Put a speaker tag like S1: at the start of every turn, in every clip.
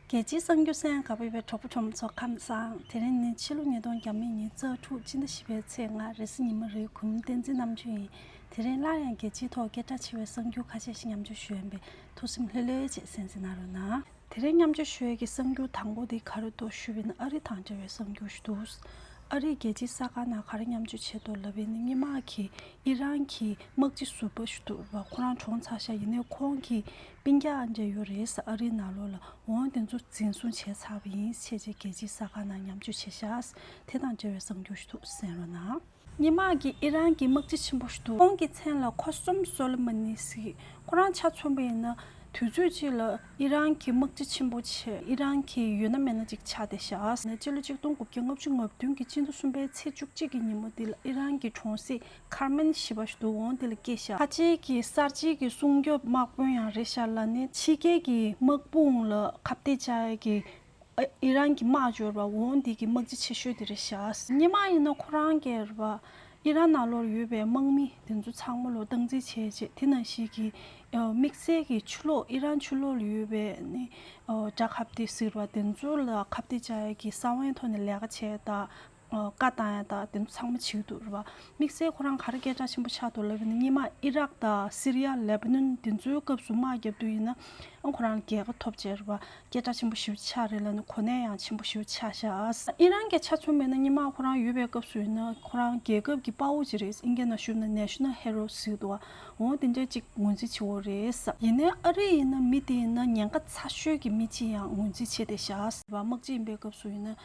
S1: རྒྱལ་སྤྱིའི་གསང་རྒྱུད་ས་ཡང་ག་བོད་པའི་གྲོགས་པོ་གྲོགས་མོ་ཚོ་ཁམས་བཟང་དེ་རིང་ནི་ཕྱི་ལོ་ཉིས་སྟོང་གྱ་མེད་ཉིན་གཙག་ཕྲུག་སྤྱི་ཟླ་བཞི་པའི་ཚེས་ལྔ་རེས་གཟི་ཉི་མ་རེའི་གུང་མོ་བསྟན་འཛིན་རྣམ་བཅུ་ཡིན་དེ་རིང་སླར་ཡང་རྒྱལ་སྤྱིའི་ཐོག་སྐད་གྲགས་ཆེ་བའི་གསང་རྒྱུད་ཁ་ཤས་ཤིག་མཉམ་སྤྱོད་ཞུ་འོས་པས་ཐུགས་སེམས་ལྷོད་ལྷོད་བྱེད་སེམས་ཟིན་ན་རུང་ན། དེ་རིང་མཉམ་སྤྱོད་ཞུ་འོས་ཀྱི་གསང་རྒྱུད་དང་པོ་དེ་ག་རེ་འདུག་ཞུས་པས་ན་ཨ་རི་དང་འབྲེལ་བའི་གསང་རྒྱུད་ཞིག་འདུག་ཨ་རིའི་རྒྱལ་སྤྱིའི་ས་ཁང་ནང་ག་རེ་མཉམ་སྤྱོད་བྱས་འདུག་ལབ་པས་ནི་སྙེ་མ་གིས་ཨི་རན་གྱི་དམག་སྤྱི་ཟུར་པ་ཞིག་འདུག་བ་ཁོ་རང་གྲོངས་ཚར་ཤག་ཡིན་ནའི་ཁོང་གིས་པིང་རྒྱ་ཨ་འབྲས་ཡོ་རེས་ཨ་རིའི་ནང་ལོགས་ལ་འོང་དེ་ཚོ་འཛིན་བཟུང་བྱས་ཚར་བ་ཡིན་ཆེས་རྗེས་རྒྱལ་སྤྱིའི་ས་ཁང་ནང་མཉམ་སྤྱོད་བྱེད་ཤགས་དེ་དང་འབྲེལ་བའི་གསང་རྒྱུ་ཞུ་ཐུགས་གསན་རོགས་གནང། སྙེ་མ་གིས་ཨི་རན་གྱི་དམག་སྤྱི་ཆེན་པོ་ཞུ་ཐུགས་ཁོང་གི་མཚན་ལ་ཁོ་སུམ་སོ་ལི་མ་ནི་སི་ཁོ་རང་ཆ་མཚོན་པ་ཡིན་ན་དུས་ཚོད་ཅིག་ལ་ཨི་རན་གྱི་དམག་སྤྱི་ཆེན་པོ་ཆེ་ཨི་རན་གྱི་ཡོད་ན་མེད་ན་ཅིག་ཆགས་བསྡད་ཤགས། སྤྱི་ལོ་གཅིག་སྟོང་དགུ་བརྒྱ་ལྔ་བཅུ་ང་བདུན་གྱི་སྤྱི་ཟླ་གསུམ་པའི་ཚེས་བཅུ་གཅིག་གི་ཉིན་མོ་དེ་ལ་ཨི་རན་གྱི་གྲོང་གསེབ་མཁར་མིན་ཞི་བ་ཞུ་འོང་དེ་ལ་སྐྱེ་ཤག་ཁ་ཆེ་གི་གསར་བརྗེ་གི་སྲུང་སྐྱོབ་དམག་དཔོན་ཡང་རེད་ཤག་ལ་ནི་ཕྱི་རྒྱལ་གི་དམག་དཔུང་ལ་ཁ་བདེ་བྱ་གི་ཨི་རན་གི་དམག་འབྱོར་བ་འོང་དེ་གི་དམག་སྤྱི་ཆེ་ཤོས་དེ་རེད་ཤག་སྙེ་མ་ཡིན་ན་ཁོ་རང་གི་ར་བ་ཨི་རན་ན་ལོར་ཡོད་པའི་དམག་མི་དེ་ཚོ་ཚང་མ་ལོ་སྟངས་འཛིན་བྱས་རྗེས་དེ་ན་ཞིག་གི་དམིགས་བསལ་གི་ཆུ་ལོག་ཨི་རན་ཆུ་ལོག་ལ་ཡོད་པའི་ནི་དགྲ་ཁ་བདེ་ཟེར་བ་དེ་ཚོ་ལ་ཁ་བདེ་བྱ་གི་ས་བོན་ཐོག་ནས་ལས་ཀ་བྱས་ད་བཀའ་བཏང་ཡང་དག་དེ་ཚོ་ཚང་མ་བྱེའུ་དུག་རེད་བ། དམིགས་བསལ་ཁོ་རང་གར་སྐད་གྲགས་ཆེན་པོ་ཆགས་འདུག་ལབ་ཡོད་ན་སྙེ་མ་ཨི་རག་དང་སི་རི་ཡ་ལེ་བྷ་ནོན་དེ་ཚོའི་སྐབས་སུ་དམག་བརྒྱབ་འདུག་ཡིན་ན་ཁོ་རང་རྒྱལ་ཁ་ཐོབ་བྱས་རེད་བ། སྐད་གྲགས་ཆེན་པོ་ཞེའུ་ཆགས་རེད་ལབ་ན་གོ་གནས་ཡང་ཆེན་པོ་ཞེའུ་ཆགས་ཤག། ཨི་རན་གྱི་ཆ་མཚོན་མེད་ན་སྙེ་མ་ཁོ་རང་ཡོད་པའི་སྐབས་སུ་ཡིན་ན་ཁོ་རང་རྒྱལ་ཁབ་ཀྱི་དཔའ་བོ་ཅིག་རེད་ཨིན་སྐད་ནང་ཞུབ་ན National Hero ཟེར་འདུག་བ་འོང་དེ་འདྲའི་ཅིག་ངོས་འཛིན་བྱེད་འོ་རེད། ཡིན་ནའི་ཨ་རི་ཡིན་ན་མི་དེ་ཡིན་ན་ཉེན་ཁ་ཚ་ཤོས་ཀྱི་མི་ཅིག་ཡང་ངོས་འཛིན་བྱེད་བསྡད་ཤག། དམག་སྤྱི་ཡིན་པའི་སྐབས་སུ་ཡིན་ན་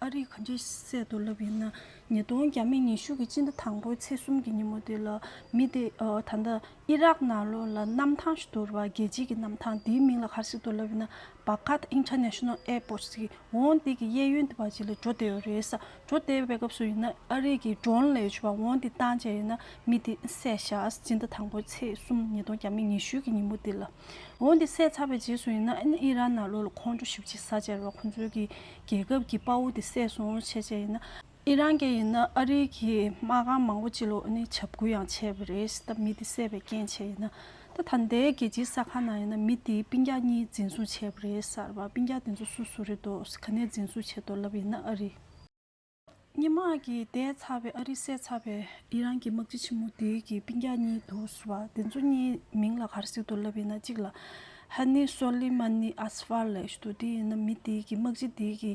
S1: ཨ་རིས་ག་འདྲའི་གསལ་དུ་ལབ་ཡོད་ན་ཉིས་སྟོང་བརྒྱ་མེད་ཉི་ཤུ་གི་སྤྱི་ཟླ་དང་པོའི་ཚེས་གསུམ་གྱི་ཉིན་མོ་དེ་ལ་མི་དེ་ད་ལྟ་ཨི་རག་ནང་ལོགས་ལ་གནམ་ཐང་ཞིག་ཏུ་རེད་པ་རྒྱལ་སྤྱི་གི་གནམ་ཐང་དེའི་མིང་ལ་ག་རེ་ཞིག་ཏུ་ལབ་ཡོད་ན Baghdad International Airport ཟེར་གི་འོང་སྟེ་གི་གཡས་གཡོན་དེ་བར་གྱི་ལ་འགྲོ་བསྡད་ཡོད་རེད་ས་འགྲོ་བསྡད་པའི་སྐབས་སུ་ཡིན་ན་ཨ་རིས་གི Drone ལས་བྱུང་བ་འོང་སྟེ་བཏང་བྱས་ཡོད་ན་མི་དེ་བསད་བཞག་སྤྱི་ཟླ་དང་པོའི་ཚེས་གསུམ་ཉིས་སྟོང་བརྒྱ་མེད་ཉི་ཤུ་གི་ཉིན་མོ་དེ་ལ་འོང་སྟེ་བསད་ཚར་བའི་རྗེས་སུ་ཡིན་ན་ཨི་རག་ནང་ལོགས་ལ་ཁོང་ཁྲོ་ཞིབ་ཆེ་ས་ཆ་རེད་པ་ཁོང་ཚོའི་གི་རྒྱལ་ཁབ་ཀྱི་དཔའ་བོ་དེ་བསད་སོང་ཆེ་ཆེ་ཡིན་ན། ཨི་རན་སྐད་ཡིན་ན་ཨ་རིའི་གི་མ་གང་མང་པོ་སྤྱི་ལོ་ནི་བྱབ་ཁུལ་ཡང་བྱས་པ་རེད་ད་མི་དེ་བསད་པའི་རྐྱེན་བྱས་ཡིན་ན། ད་ད་ལྟའི་རྒྱལ་སྤྱིའི་ས་ཁང་ནང་ཡིན་ན་མི་དེའི་སྤིན་རྒྱག་གཉིས་འཛིན་བཟུང་བྱས་པ་རེད་གསར་པ་སྤིན་རྒྱག་དེ་ཚོ་སུ་སུ་རེད་དོ་ག་ནས་འཛིན་བཟུང་བྱས་དོ་ལབ་ཡིན་ན་ཨ་རི། སྙན་དམག་གིས་བསྡད་ཚར་བའི་ཨ་རི་བསད་ཚར་བའི་ཨི་རན་གྱི་དམག་སྤྱི་ཆེན་མོ་དེའི་གི་པིན་གྱ་གཉིས་འདུག་བ་དེ་ཚོ་གཉིས་མིང་ལ་གར་སིག་ཏུ་ལབ་ཡིན་ན་གཅིག་ལ་ཧ་ནི་སོ་ལི་མ་ནི་ཨ་སི་ཕར་ལེ་ཞུ་དུ་དེ་ཡིན་ན་མི་དེའི་གི་དམག་སྤྱི་དེའི་གི་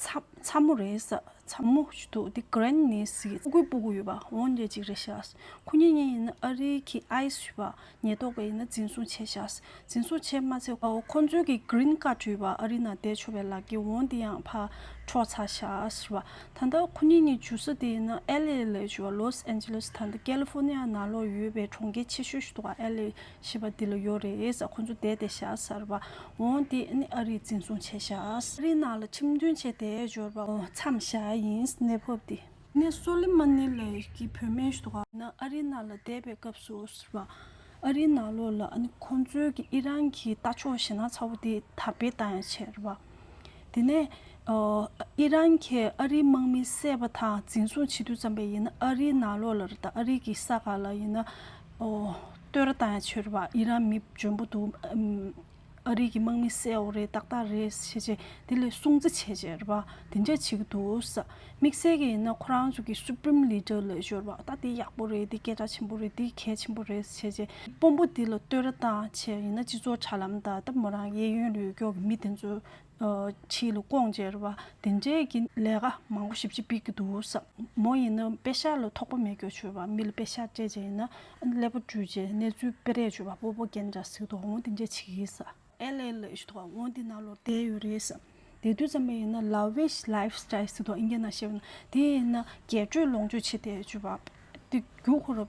S1: ཚ་མོ་རེད་ས་ཚ་མོ་ཞུ་དུ་དེ་ཀི་རན་ནི་སི་གི་སྤུ་གུ་སྤུ་གུ་ཡོད་པ་འོང་རྒྱ་གཅིག་རེད་ཤག་སུ་ཁུ་གཉིས་གཉིས་ཡིན་ན་ཨ་རི་གི་ཨའི་ཞུ་བ་ཉེན་རྟོག་པས་ཡིན་ན་འཛིན་བཟུང་བྱས་བཞག། འཛིན་བཟུང་བྱས་མ་ཚེ། ཁོ་ཚོའི་གི Green Card བྲུས་པ་ཨ་རི་ནང་བསྡད་ཆོག་པའི་ལག་གི་བོང་དེ་ཡང་ཕར་འཕྲོག་ཚར་བཞག། ད་ལྟ་ཁོ་གཉིས་གཉིས་འཇུ་ས་དེ་ཡིན་ན LA ལས་བྱུང་བ Los Angeles ད་ལྟ California ནང་ལོགས་ཡོད་པའི་གྲོང་ཁྱེར་ཆེ་ཤོས་ཤིག་ཏུ་བ LA ཞེས་པ་དེ་ལ་ཡོད་རེད། ཁོ་ཚོ་བསྡད་དེ་བཞག། བོང་དེ་ནི་ཨ་རིར་འཛིན་བཟུང་བྱས་བཞག། ཨ་རི་ནང་ལ་ཁྲིམས་མཐུན་བྱས་དེ་འབྱོར་བ། མཚམས་བཞག་ཡིན་གནས་བབ་དེ། ནས་སོ་ལི་མ་ནི་ལའི་ཀྱི་བུ་སྨན་ཞུ་བ། ནས་ཨ་རི་ན་ལ་བསྡད་པའི་སྐབས་སུ་ཟེར་བ། ཨ་རི་ན་ལོ་ལ་ཁོ་ཚོའི་ཀྱི་ཨི་རན་གྱི་རྟ་མཆོག་ཞེ་ན་ཚ་བོ་དེ་དར་སྤེལ་བཏང་ཡང་ཆེ་རེད་བ། དེ་ནས་ཨི་རན་གྱི་ཨ་རིའི་དམག་མི་བསད་པ་དང་འཛིན་བཟུང་བྱེད་དུས་ཙམ་པས་ཡིན་ན་ཨ་རི་ན་ལོ་ལ་དང་ཨ་རི་གྱི་ས་ག་ལ་ཡིན་ན་ལྟོས་ར་བཏང་ཡང་ཆོད་རེད་བ་ཨི་རན་མི་འཇོན་པོ་འདུག་ཨ་རིག་གི་དམག་མི་གསལ་བོ་རེད་ཏག་ཏག་རེད་བྱས་བྱས་དེ་ལས་སྲུང་བརྩི་བྱས་བྱས་རེད་པ་དེ་འདྲ་བྱེད་ཀྱི་འདུག་དམིགས་བསལ་གྱི་ཡིན་ན་ཁོ་རང་ཚོ་གི Supreme Leader ལ་ཤོར་བ་ད་དེ་ཡག་པོ་རེད་དེ་སྐད་གྲགས་ཆེན་པོ་རེད་དེ་གལ་ཆེན་པོ་རེད་བྱས་བྱས་དཔོན་པོ་དེ་ལ་བསྟོད་ར་བཏང་བྱས་ཡིན་ན་སྤྱི་ཚོགས་དྲ་ལམ་དང་ད་མོ་རང་གི་གཡས་གཡོན་ལ་ཡོད་སྐྱོར་གྱི་མི་དེ་ཚོས་ཕྱི་ལ་སྐོང་བཅེར་བ་དེ་འདྲས་ཀྱི་ལས་ཀ་མང་པོ་ཞིབ་ཅིག་སྤེལ་གྱི་འདུག་བསམ། མོ་ཡིན་ན་དཔེ་ཆ་ལ་ཐོགས་པ་མེད་སྐྱོ་བྱོས་པ་མི་ལ་དཔེ་ཆ་སྤྲད་བྱས་ཡིན་ན་ཀླད་པ་བཀྲུས་བྱས་གནས་ཚུལ་སྤེལ་རེས་བྱོས་པ་པོ་པོ་རྒན་འདྲ་ཟིག་དོགས་སྔོན་དེ་འདྲས་བྱེད་ཀྱི་བསམ། ཨེལ་ཨེལ་ཨེ་ཞུ་དོགས་སྔོན་དེ་ནང་ལོར་བསྡད་ཡོད་རེད་བསམ། དེ་དུས་ཙམ་པ་ཡིན་ན་ལ་བེས་ལཱིབ་སྟཱིལ་ཟིག་དོགས་ཨིན་སྐད་ནང་བཤད་པ་ན་དེ་ཡིན་ན་རྒྱས་སྤྲོས་ལོངས་སྤྱོད་ཆེ་སྟེ་བྱོས་པ། དེ་རྒྱུ་ཁོ་རུ།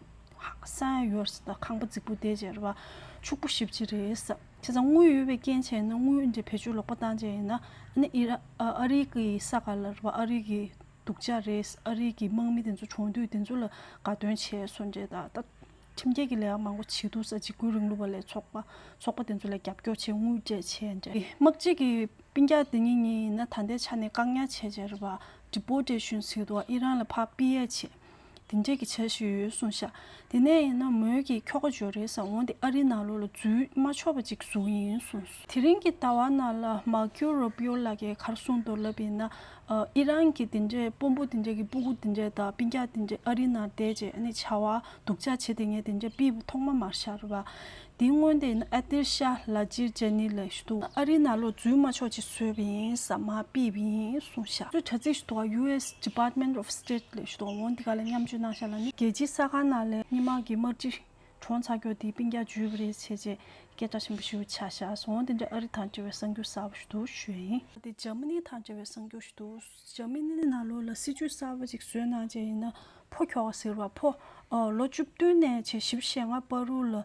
S1: སངས་ཡོར་སི་ཏཱ་ཁང་པ་རྫིག་པོ་དེ་ཅེར་བ། ཕྱུག་པོ་བཞི་བཅས་རེད། དེ་ཚང་དངུལ་ཡོད་པའི་རྐྱེན་བྱས་ན་དངུལ་འདི་བེད་སྤྱོད་ལོག་པ་བཏང་བྱས་ཡིན་ན། ཨ་རིག་གི་ས་ག་ལ་རུ་བ་ཨ་རིག་གི་སྡུག་ཅག་རེད། ཨ་རིག་གི་དམག་མི་དེ་ཚོ་བྱུང་དུས་དེ་ཚོ་ལ་དགའ་སྟོན་བྱས་སོང་རེད་ད། ད་ཁྲིམས་འགལ་གྱི་ལས་ཀ་མང་པོ་བྱེད་འདུག་ས་འཇིག་རྒོལ་རིང་ལུགས་པ་ལས་ཚོགས་པ་ཚོགས་པ་དེ་ཚོ་ལ་རྒྱབ་སྐྱོར་བྱས་དངུལ་སྤྲད་བྱས་རེད། དམག་སྤྱི་གི་པིན་རྒྱ་དེ་ཉིད་ཉིད་ཡིན་ན་ད་ལྟའི་ཆ་ནས་བཀག་ཉར་བྱས་ཅེར་བ། Deportation སིད་ཏུ་ཨི་རན་ལ་ཕ་པི་ཡལ་བྱས། དེ་འབྲེལ་གྱི་བྱ་ཞིག་ཡོད་གསུངས་བཞག་དེ་ནས་ཡིན་ན་མོས་ཀྱིས་ཁྱོ་ག་འཇོ་རེས་ཨོང་དེ་ཨ་རི་ནང་ལོག་ལ་འཛུལ་མ་ཆོག་པ་ཅིག་བཟོ་གི་ཡིན་གསུངས། དེ་རིང་གི་ཟླ་བ་ནང་ལ་མར་ཀིའོ་རུ་པི་ཡོ་ལགས་ཀྱིས་གར་གསུངས་མདོར་ལབ་ཡིན་ན་ཨི་རན་གྱི་དེ་འདྲའི་དཔོན་པོ་དེ་འདྲས་ཀྱི་སྤུ་གུ་དེ་འདྲས་དང་པི་རྒྱག་དེ་འདྲས་ཨ་རི་ནང་བསྡད་རྗེས་ནས་བྱ་བ་སྡུག་ཅག་བྱེད་དེ་ངས་དེ་འདྲས་པི་ཐོག་མ་མར་ཤར་བ། འདི་སྔོན་ལྟས་ན་ཨ་ཏིར་ཤ་ལ་ཅིར་ཅཱ་ནི་ལ་ཞུ་དུ་ཨ་རི་ན་ལོ་རྫུན་མ་ཆོག་ཅིག་བཟོས་པ་ཡིན་ས་མ་པི་བི་ཡིན་གསུངས་ཤག་ཚོས་དྲ་ཚིགས་ཞུ་དུ་ཡུ་ཨེ་སི Department of State ལ་ཞུ་དུ་འོང་འདི་ག་ལ་མཉམ་སྤྱོད་གནང་ཤག་ལ་ནི་རྒྱལ་སྤྱིའི་ས་ཁང་ནང་ལས་སྙི་མང་གི་དམར་སྤྱི་གྲོང་ཚ་ཀྱོག་འདིའི་པིང་རྒྱག་འཇུས་པ་རེད་བྱས་རྗེས་སྐད་གྲགས་ཆེན་པོ་ཞུ་ཆག་ཤག་འོང་འདི་འདྲ་ཨ་རི་དང་འབྲེལ་བའི་གསང་རྒྱུ་ཟབ་པོ་ཞུ་དུ་ཞུས། ཨ་ཏི Germany དང་འབྲེལ་བའི་གསང་རྒྱུ་ཞུ་དུ། ཞང་མི་ནི་ན་ལོ་ལ་སྲིད་ཇུས་གསར་པ་ཅིག་བཟོས་གནང་བྱས་ཡིན་ན་ཕོ་ཁྱོ་ག་ཟེར་བ་ཕོ། ལོ་བཅུ་བདུན་ནས་བྱས་བཞི་བཞེས་ལྔ་སྤར་རུ་ལ།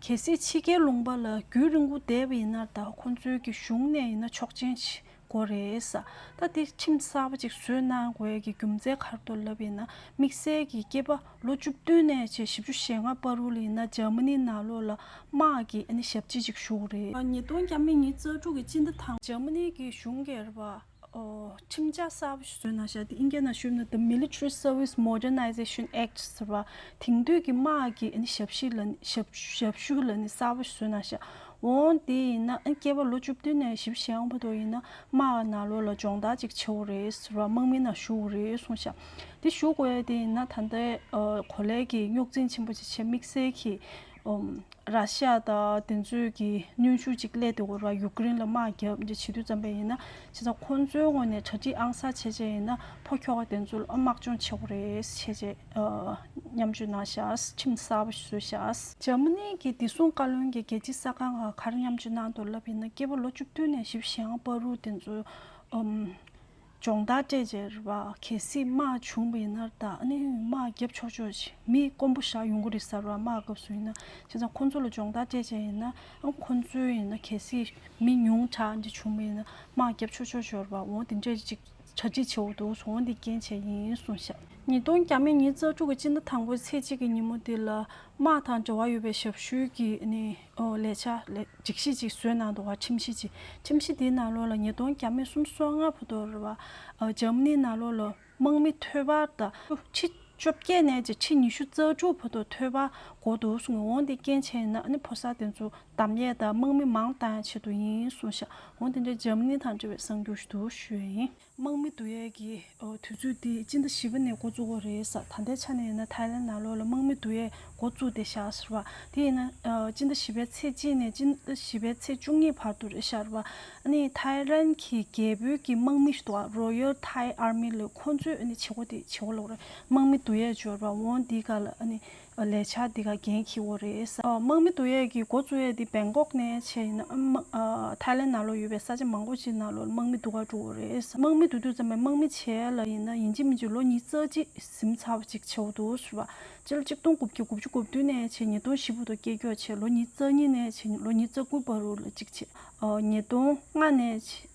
S1: གལ་སྲིད་ཕྱི་རྒྱལ་ལུང་པ་ལ་རྒྱུན་རིང་བོ་བསྡད་པ་ཡིན་ནར་ད་ཁོང་ཚོའི་གི་གཞུང་ནས་ཡིན་ན་ཆོག་མཆན་བྱེད་དགོས་རེད། ད་དེ་ཁྲིམས་གསར་པ་ཅིག་བཟོས་གནང་དགོས་གི་རྒྱུ་མཚན་གར་དུ་ལབ་ཡིན་ན་དམིགས་བསལ་གི་སྐྱེས་པ་ལོ་བཅུ་བདུན་ནས་བྱས་བཞི་བཅུ་བཞེས་ལྔ་སྤར་རུ་ལ་ཡིན་ན་ཇར་མ་ནི་ན་ལོ་ལ་དམག་གི་ཨ་ནི་ཞབས་སྤྱི་ཅིག་བཞུགས་རེད། ཉིས་སྟོང་གྱ་མི་ཉིས་རྩ་དྲུག་གི་སྤྱི་ཟླ་དང་པོ། ཇར་མ་ནི་གི་གཞུང་སྒེར་པ། ཁྲིམས་འཆར་གསར་བ་བཟོས་ན་ཤ་ཏི་ཨིན་རྒྱ་ནག་གཞུང་ནས The Military Service Modernization Act ཟེར་བ་དེང་དུས་ཀྱི་དམག་གི་ཞབས་ཞུ་ལ་ནི་གསར་བ་བཟོས་ན་ཤ། འོང་དེ་ཡིན་ན་སྐྱེས་པ་ལོ་བཅུ་བདུན་ནས་བཞི་བ་ཞེ་ཡང་བ་དོ་ཡིན་ན་དམག་གི་ནང་ལོག་ལ་སྦྱོང་བརྡར་ཅིག་བྱེད་འོ་རེད་ཟེར་བ་དམག་མི་ནང་ཞུགས་འོ་རེད་གསུངས་ཤ། དེ་ཞུགས་འོས་དེ་ཡིན་ན་ད་ལྟའི་གོ་ལའི་གི་རྙོག་འཛིང་ཆེན་པོ་ཆེ་ཆེ་དམིགས་བསལ་གྱིས་ར་ཤ་ཡ་དང་དེ་ཚོས་ཀྱི་གནོན་ཤུགས་ཅིག་སླེད་དེ་འོ་ར་ཡུག་ཀེ་རིན་ལ་དམག་བརྒྱབ་འདི་བྱེད་དུས་བརྩམས་པས་ཡིན་ན་བྱས་ཙང་ཁོ་ཚོའི་ངོས་ནས་གྲ་སྒྲིག་ཨང་གསར་བྱས་བྱས་ཡིན་ན་ཕོ་ཁྱོ་ག་དེ་ཚོ་ལ་དམག་སྦྱོང་བྱེད་དགོས་རེད་བྱས་བྱས་མཉམ་སྤྱོད་གནང་ཤགས་ཁྲིམས་གསར་པ་བཟོས་ཤགས། འཇར་མ་ནི་གྱི་བདེ་སྲུང་བཀའ་བློན་གྱི་རྒྱལ་སྤྱིའི་གསར་ཁང་ག་གར་མཉམ་སྤྱོད་གནང་དོར་ལབ་ཡིན་ན་སྐྱེས་པ་ལོ་བཅུ་བདུན་ནས་བཞི་བཞི་ཡང་པ་རུ་དེ་ཚོ་སྦྱོང་བརྡར་སྤྲད་རྗེས་ར་གེ་སིས་དམག་བྱུང་བ་ཡིན་ནར་ད་ནི་དམག་བརྒྱབ་ཆོག་ཆོག་ཅིག་མི་དཀོན་པོ་བཞག་ཡོང་གི་རེད་གསར་བ་དམག་སྐབས་སུ་ཡིན་ན་བྱས་ཙང་ཁོ་ཚོ་ལ་སྦྱོང་བརྡར་སྤྲད་བྱས་ཡིན་ན་ཁོ་ཚོའི་ཡིན་ན་གལ་སྲིད་མི་ཉུང་དྲག་འདི་བྱུང་བ་ཡིན་ན་དམག་བརྒྱབ་ཆོག་ཆོག་ཤོར་བ་འོང་དེ་འདྲས་ཅིག་གྲ་སྒྲིག་བྱེད་འོག་འདུག་སོང་འདི་རྐྱེན་བྱས་ཡིན་གསུངས་ཤག། ཉིས་སྟོང་གྱ་མེད་ཉིན་གཙགས་དྲུག་གི་སྤྱི་ཟླ་དང་པོའི་ཚེས་གཅིག་གི་ཉིན་མོ་དེ་ལ་དམག་དང་འབྲེལ་བ་ཡོད་པའི་ཞབས་ཞུའི་གི་ནི་ཨོ་ལེ་ཆ་ལེ། འཇིགས་ཤིག་ཅིག་བཟོས་ནང་དུ་བ་ཁྲིམས་ཤིག་ཅིག་ཁྲིམས་ཤིག་འདིའི་ནང་ལོགས་ལ་ཉིས་སྟོང་གྱ་མི་གསུམ་བསོད་ལྔ་ཕོ་དོ་ར་བ། འཇམ་མནིའི་ནང་ལོགས་ལ་དམག་མི་ཐོད་པ་ད་ཁྲི་བཅོ་བརྒྱད་ནས་ཀྱི་ཁྲི་ཉི་ཤུ་རྩ་དྲུག་ཕོ་དོ་ཐོད་པ་གོ་འདུག་གསུང་ངོ་འོང་དེ་རྐྱེན་བྱས་ཡིན་ན་ཨ་ནི་ཕོ་གསར་དེ་ཚོ་དམ་ཡས་དང་དམག་མི་མང་བཏང་ཡང་ཆེད་དུ་ཡིན་གསུང་ཤག་འོང་དེ་འདྲའི་འཇམ་མནི་དང་འབྲེལ་བའི་གསང་རྒྱུགས་ཞུ་དུ་ཞུ་ཡ་ཡིན། དམག་མི་བསྡུ་ཡས་ཀྱི་དུས་ཚོད་འདི་སྤྱི་ཟླ་བཞི་པ་ནས་འགོ་བཙུགས་པ་རེད་ས་ད་ལྟའི་ཆ་ནས་ཡིན་ན་ཐའི་ལེན་ནང་ལོགས་ལ་དམག་མི་བསྡུ་ཡས་འགོ་བཙུགས་ཏེ་བཞག་ཟེར་བ་དེ་ཡིན་ན་སྤྱི་ཟླ་བཞི་པའི་ཚེས་གཅིག་ནས་སྤྱི་ཟླ་བཞི་པའི་ཚེས་བཅུ་གཉིས་བར་དུ་རེད་ཤར་བ་ནི་ཐའི་ལེན་གྱི་རྒྱལ་པོའི་ཀྱི་དམག་མི་ཞེས་བཏོགས་ཨ Royal Thai Army ལོས་ཁོ་ཚོས་ཨ་ནི་བྱེད་སྒོ་དེ་བྱེད་སྒོ་ལོགས་རེད་དམག་མི་བསྡུ་ཡས་འབྱོར་བ་འོང་འདི་ག་ལ་ཨ་ནི་བ་ལས་ཆ་འདི་ག་རྒྱན་གྱི་བོ་རེད། དམག་མི་བསྡུ་ཡས་ཀྱི་འགོ་གཙོ་ཡས་འདི་བེང་ཀོག་ནས་ཆས་ཡིན། ཐའི་ལེན་ན་ལོ་ཡོད་པའི་ས་ཆ་མང་པོ་ཅིག་ན་ལོ་ལ་དམག་མི་བསྡུ་ག་འགྲོ་བོ་རེད། དམག་མི་བསྡུ་དུས་ཙམ་པའི་དམག་མི་ཆས་ཡས་ལ་ཡིན་ན་ཡིན་གཅིག་མིན་གཅིག་ལོ་གཉིས་རྩ་གཅིག་གཟིམ་ཚ་བ་ཅིག་ཆས་བོ་འདུག་ཟེར་བ། སྤྱི་ལོ་གཅིག་སྟོང་དགུ་བརྒྱ་དགུ་བཅུ་གོ་བདུན་ནས་ཆས་ཉིས་སྟོང་བཞི་བོ་དང་སྐྱེ་སྐྱོ་ཆས་ལོ་གཉིས་རྩ་གཉིས་ནས་ཆས་ལོ་གཉིས་རྩ་དགུ་བར་རུ་ལ་ཅིག་ཆས། ཉིས་སྟོང་ལྔ་ནས་ཆས།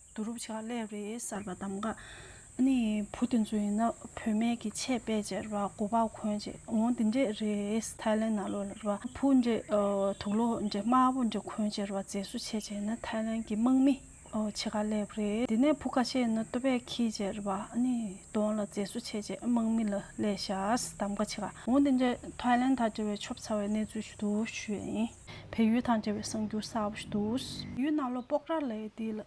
S1: བསྡུ་རུབ་བྱས་པ་ལས་རེས་གསར་པ་འདམ་ག་ནི་བུ་དེ་ཚོ་ཡིན་ན་བུད་མེད་ཀྱི་ཆད་དཔེ་ཅེས་ར་བ་གོ་བ་གོན་བྱས་འོང་དེ་འདྲས་རེས་ཐའི་ལན་ན་ལོ་ལ་ར་བ་བུ་འདྲས་དུག་ལོ་འདྲས་དམར་བོ་འདྲས་གོན་བྱས་ར་བ་མཛེས་བཟོ་བྱས་བྱས་ན་ཐའི་ལན་གྱི་དམག་མི་ཕྱེད་ཀ་ལས་རེས་དེ་ནས་བུ་ཁ་ཤས་ཡིན་ན་སྟོད་པས་ཁྱི་བྱས་ར་བ་ནི་དོང་ལ་མཛེས་བཟོ་བྱས་བྱས་དམག་མི་ལ་ལས་ཤ་ཟ་འདམ་ག་ཕྱེད་ཀ་འོང་དེ་འདྲས་ཐའི་ལན་ད་དྲི་བའི་ཆོབ་ཚ་བའི་གནས་ཚུལ་ཞུ་དུ་ཞུ་ཡས་ཡིན། བལ་ཡུལ་དང་འབྲེལ་བའི་གསར་འགྱུར་གསར་བ་ཞིག་འདུག། ཡུལ་ནང་ལོ་པོག་ར་ལས་དེ་ལ་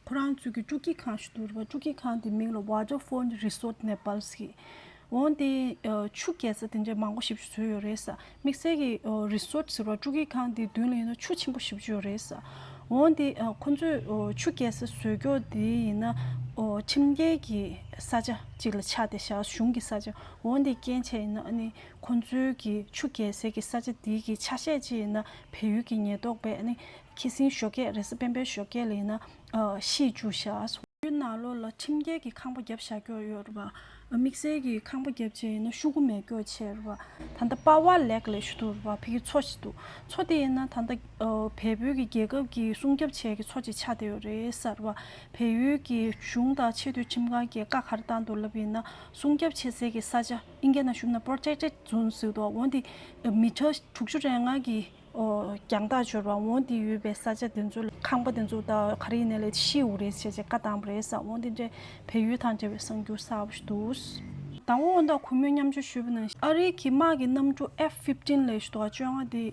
S1: ཁོ་རང་ཚོས་ཀྱི་ཀྲུག་གི་ཁང་ཞིག་འདུག་རེད་པ་ཀྲུག་གི་ཁང་དེའི་མིང་ལ Water Font Resort Nepal ཟེར། འོན་ཏེ་ཆུ་སྐྱེལ་ས་དེ་འདྲའི་མང་པོ་ཞིབ་རྒྱུ་བཟོས་ཡོད་རེད། དམིགས་བསལ་གྱི Resort ཟེར་བ་ཀྲུག་གི་ཁང་དེའི་མདུན་ལ་ཡིན་ན་ཆུ་ཆེན་པོ་ཞིབ་རྒྱུ་ཡོད་རེད། འོན་ཏེ་ཁོ་ཚོས་ཆུ་སྐྱེལ་ས་བཟོས་སྐྱོར་དེ་ཡིན་ན་ཁྲིམས་འགལ་གྱི་ས་ཆ་གཅིག་ལ་ཆགས་ཏེ་བཞག་གཞུང་གི་ས་ཆ་འོན་ཏེ་སྐྱེལ་བྱས་ཡིན་ན་ཨ་ནི་ཁོ་ཚོའི་གི་ཆུ་རྒྱལ་སའི་གི་ས་ཆ་འདི་གི་ཆ་ཤས་ཅི་ཡིན་ན་བལ་ཡུལ་གི་ཉེ་རྟོག་པས་ནི་ཁི་སིང་ཞོ་སྐད་རེས་པན་པའི་ཞོ་སྐད་ལ་ཡིན་ན་ཤིས་ཅུ་ཤ། ཡུལ་ནག་ལོ་ལ་ཁྲིམས་འགལ་གི་ཁང་པ་རྒྱབ་བཞག་སྐྱོར་ཡོད་རེད་པ། དམིགས་བསལ་གི་ཁང་པ་རྒྱབ་ཅེས་ཡིན་ན་ཤུ་གུ་མས་སྐྱོར་བྱས་རེད་པ། ད་ལྟ་དཔའ་བ་ལེགས་ལས་ཞུ་འདུག་རེད་པ་ཕི་གི་མཚོ་ཞིག་འདུག་མཚོ་དེ་ཡིན་ན་ད་ལྟ་བལ་བོད་གི་རྒྱལ་ཁབ་གི་སྲུང་སྐྱབ་བྱས་གི་མཚོ་ཅིག་ཆགས་བསྡད་ཡོད་རེད་ས་རེད་པ། བལ་ཡུལ་གི་གཞུང་དང་ཆེས་མཐོའི་ཁྲིམས་ཁང་གིས་བཀའ་གར་བཏང་འདུག་ལབ་ཡིན་ན་སྲུང་སྐྱབ་བྱེད་སའི་གི་ས་ཆ། ཨིན་རྒྱ་ན་ཞུགས་ན་པོར་ཅེག་ཅེག་ཛུན་སིའུ་ཏོག་འོན་ཏེ་མི་ཁྲག་དྲུག་ཅུ་རེ་ལྔ་གི་རྒྱང་ཐག་འབྱོར་བ་འོན་ཏེ་ཡོད་པའི་ས་ཆ་དེ་ཚོ་ལ་ཁང་པ་དེ་ཚོ་ད་ག་རེ་ཡིན་ན་ལས་ཤེས་འུ་རེད་བྱས་བྱས་བཀའ་བཏང་བ་རེད་བསམ་འོན་ཏེ་འདྲེ་བལ་ཡུལ་དང་འབྲེལ་བའི་གསང་རྒྱུ་གསར་བ་ཞིག་འདུག། དང་བོ་སྔོན་དང་གུས་མོས་མཉམ་སྤྱོད་ཞུས་པ་ན་ཤེས། ཨ་རིའི་གི་དམག་གི་གནམ་གྲུ F fifteen ལས་ཞུ་ཏོག་བཅོ་ལྔ་དེ་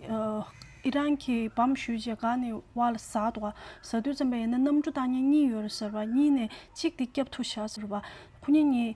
S1: ཨི་རན་གི་བམ་ཞུས་བྱས་ག་ནས་བ་ལ་ཟ་ཏོག་བཟའ་དུས་ཙམ་པ་ཡིན་ན་གནམ་གྲུ་བཏང་ཉེན་གཉིས་ཡོད་རེད་ཟེར་བ་གཉིས་ནས་གཅིག་དེ་སྐྱབས་ཐུག་བྱ་ཟེར་བ་ཁུ་ཉེན་གཉིས་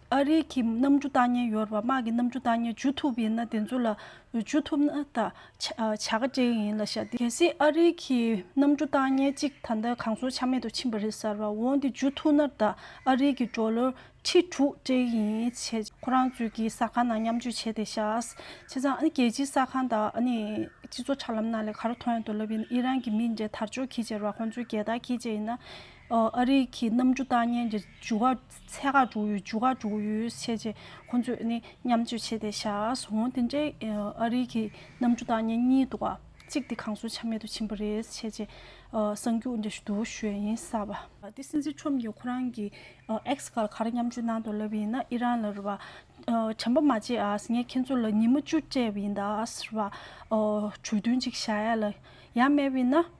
S1: ཨ་རིག་གི་གནམ་གྲུ་བཏང་ཉེན་ཡོད་རེད་པ་དམག་གི་གནམ་གྲུ་བཏང་ཉེན་འཇུ་ཐུབ་ཡིན་ན་དེ་ཚོ་ལ་འཇུ་ཐུབ་ན་ད་བྱ་དགའ་སྤྲེལ་ཡིན་ལ་ཤ་གེ་སྲིད་ཨ་རིག་གི་གནམ་གྲུ་བཏང་ཉེན་གཅིག་ད་ལྟ་གང་སོང་ཆ་མེད་དུ་ཕྱིན་པ་རེད་ཟེར་བ་འོང་དེ་འཇུ་ཐུབ་ན་ད་ཨ་རིག་གི་གྲོ་ལོད་ཁྲི་དྲུག་སྤྲེལ་ཡིན་བྱས་ཁོ་རང་ཚོས་ཀྱི་ས་ཁང་ནང་མཉམ་སྤྱོད་བྱས་དེ་ཤ་བྱས་ཙང་ཨ་ནི་རྒྱལ་སྤྱིའི་ས་ཁང་དང་ཨ་ནི་སྤྱི་ཚོགས་ཁྲ་ལམ་ནང་ལས་ག་རུ་མཐོང་ཡང་དུ་ལབ་ཡིན་ཨི་རན་གྱི་མི་འདྲེ་དར་ཅོག་གིས་བྱས་རེད་པ་ཁོང་ཚོས་རྒྱལ་དར་གིས་བྱས་ཡིན་ན་ཨ་རིག་གི་གནམ་གྲུ་བཏང་ཉེན་འཇུ་བ། ཚད་དགག་དྲུག་ཡོད་འཇུག་དགག་དྲུག་ཡོད་བཤད་རྗེས་ཁོང་ཚོས་ནི་མཉམ་སྤྱོད་བྱས་ཏེ་བཞག་སོང་དེ་འདྲའི་ཨ་རིག་གི་གནམ་གྲུ་དང་གཉེན་ཉེ་འདུག་གཅིག་དེ་གངས་སུ་ཆ་མེད་དུ་ཕྱིན་པ་རེད་བཤད་རྗེས་གསང་རྒྱུགས་འདྲ་ཞུ་འདུག་ཞོན་ཡིན་ས་བ། དེ་སྲིད་ཚེ་ཁྲོམ་གྱིས་ཁོ་རང་གི་ཨེག་སི་ག་ལ་ག་རེ་མཉམ་སྤྱོད་གནང་འདུག་ལབ་པ་ཡིན་ན་ཨི་རན་ལ་རེད་བ། དྲན་པ་མ་བརྗེད་ངས་ཁྱེད་ཚོ་ལ་ཉིན་མོ་བཅུ་སྤྲད་པ་ཡིན་ད་རེད་བ། གྲོས་མཐུན་གཅིག་བཞག་ཡ་ལ་ཡ་སྨྲས་པ་ཡིན་ན།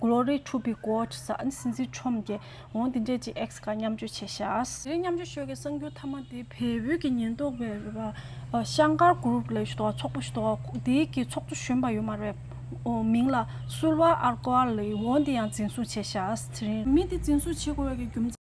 S1: Glory to be God ཟ་ཨན་སྲིད་འཛིན་ཁྲོམ་རྒྱལ་འོང་འདི་འདྲས་ཅིག་ཨེགས་ཀ་མཉམ་སྤྱོད་བྱེད་ཤ། དེ་རིང་མཉམ་སྤྱོད་ཤོད་ཀྱི་གསང་རྒྱུ་ཐ་མ་དེ་བལ་བོད་ཀྱི་ཉེན་རྟོག་པའི་རེད་པ་ཤང་སྒར group ལས་ཞུ་དོག་ཚོགས་པོ་ཞུ་དོག་དེ་གི་ཚོགས་གཙོ་གཞོན་པ་ཡོད་མ་རེད་མིང་ལ་སུལ་བ་ཨར་ཀོ་ཨར་ལི་འོང་འདི་ཡང་འཛིན་བཟུང་བྱེད་ཤ་དེ་རིང། མི་དེ་འཛིན་བཟུང་བྱེད་དགོས་པའི་གི་རྒྱུ་མཚན།